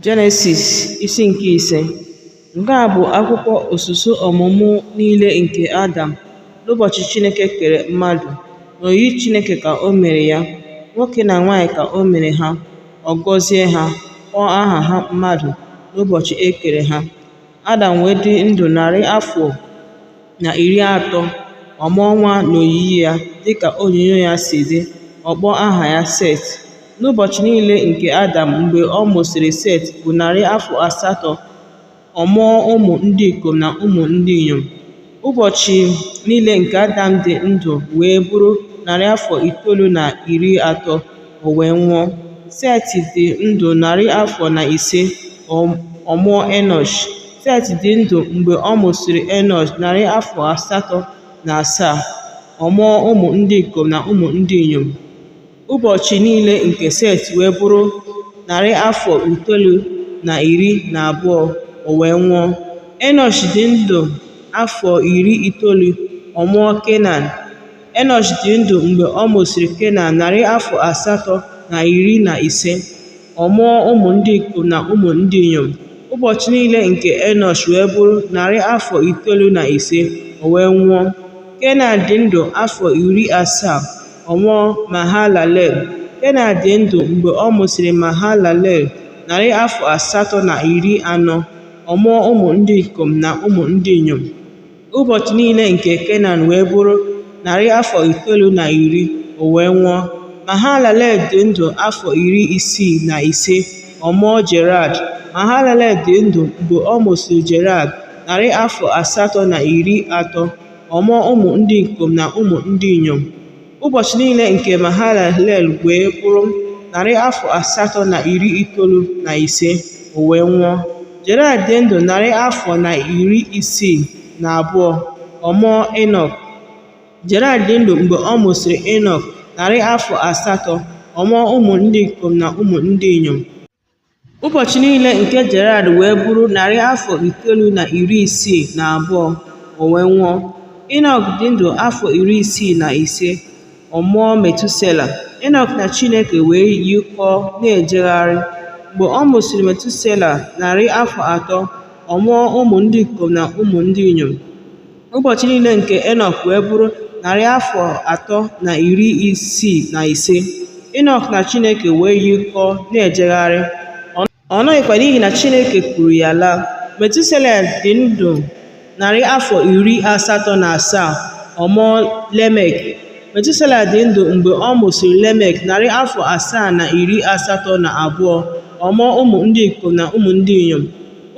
Jenesis isi nke ise nke a bụ akwụkwọ usoro ọmụmụ niile nke Adam n'ụbọchị Chineke kere mmadụ n'oyiyi Chineke ka o mere ya nwoke na nwaanyị ka o mere ha ọ gọzie ha kpọọ aha ha mmadụ n'ụbọchị e kere ha Adam wee dị ndụ narị afọ na iri atọ, ọ mụọ nwa n'oyiyi ya, dịka onyinyo ya si dị, ọ kpọọ aha ya Set. N'ụbọchị niile nke Adam mgbe ọ mụsịrị Set bụ narị afọ asatọ, ọ mụọ ụmụ ndị ikom na ụmụ ndị inyom. Ụbọchị niile nke Adam dị ndụ wee bụrụ narị afọ itoolu na iri atọ, o wee nwụọ. Set dị ndụ narị afọ na ise, ọ mụọ Enọsh. Set dị ndụ mgbe ọ mụsịrị Enọsh narị afọ asatọ na asaa, ọ mụọ ụmụ ndị ikom na ụmụ ndị inyom. Ụbọchị niile nke Set wee bụrụ narị afọ itoolu na iri na abụọ, o wee nwụọ. Enọsh dị ndụ afọ iri itoolu, ọ mụọ Kenan. Enọsh dị ndụ mgbe ọ mụsịrị Kenan narị afọ asatọ na iri na ise. ọ mụọ ụmụ ndị ikom na ụmụ ndị inyom. Ụbọchị niile nke Enọsh wee bụrụ narị afọ itoolu na ise, o wee nwụọ. Kenan dị ndụ afọ iri asaa, ọ mụọ Mahalalel. Kenan dị ndụ mgbe ọ mụsịrị Mahalalel narị afọ asatọ na iri anọ, ọ mụọ ụmụ ndị ikom na ụmụ ndị inyom. Ụbọchị niile nke Kenan wee bụrụ narị afọ itoolu na iri, o wee nwụọ. Mahalalel dị ndụ afọ iri isii na ise, ọ mụọ Jared. Mahalalel dị ndụ mgbe ọ mụsịrị Jared, narị afọ asatọ na iri atọ, ọ mụọ ụmụ ndị ikom na ụmụ ndị inyom. Ụbọchị niile nke Mahalalel wee bụrụ narị afọ asatọ na iri itoolu na ise, o wee nwụọ. Jared dị ndụ narị afọ na iri isii na abụọ, ọ mụọ Enọk. Jared dị ndụ mgbe ọ mụsịrị Enọk narị afọ asatọ, ọ mụọ ụmụ ndị ikom na ụmụ ndị inyom. Ụbọchị niile nke Jared wee bụrụ narị afọ itoolu na iri isii na abụọ, o wee nwụọ. Inọk dị ndụ afọ iri isii na ise, ọ mụọ Metusela. Inọk na Chineke wee yikọọ na-ejegharị. Mgbe ọ mụsịrị Metusela narị afọ atọ, ọ mụọ ụmụ ndị ikom na ụmụ ndị inyom. Ụbọchị niile nke Enọk wee bụrụ narị afọ atọ na iri isii na ise. Enọk na Chineke wee yikọọ na-ejegharị, ọ nọghịkwa n'ihi na Chineke kuru ya laa. Metusela dị ndụ narị afọ iri asatọ na asaa, ọ mụọ Lemek. Metusela dị ndụ mgbe ọ mụsịrị Lemek narị afọ asaa na iri asatọ na abụọ, ọ mụọ ụmụ ndị ikom na ụmụ ndị inyom.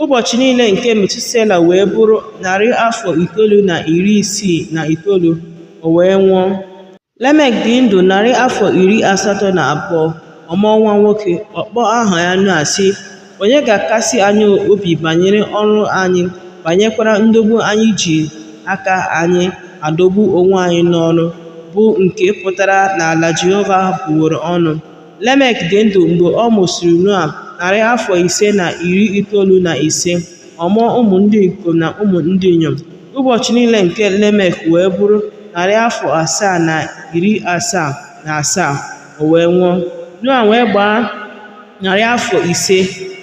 Ụbọchị niile nke Metusela wee bụrụ narị afọ itoolu na iri isii na itoolu, o wee nwụọ. Lemek dị ndụ narị afọ iri asatọ na abụọ, ọ mụọ nwa nwoke, ọ kpọọ aha ya Noa, sị, Onye ga-akasi anyị obi banyere ọrụ anyị, banyekwara ndọgbu anyị ji aka anyị adọgbu onwe anyị n'ọrụ, bụ nke pụtara n'ala Jehova bụworo ọnụ? Lemek dị ndụ mgbe ọ mụsịrị Noa narị afọ ise na iri itoolu na ise, ọ mụọ ụmụ ndị ikom na ụmụ ndị inyom. Ụbọchị niile nke Lemek wee bụrụ narị afọ asaa na iri asaa na asaa, o wee nwụọ. Noa wee gbaa narị afọ ise,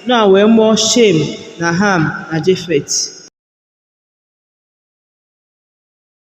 Noa wee mụọ Shem na Ham na Jefet.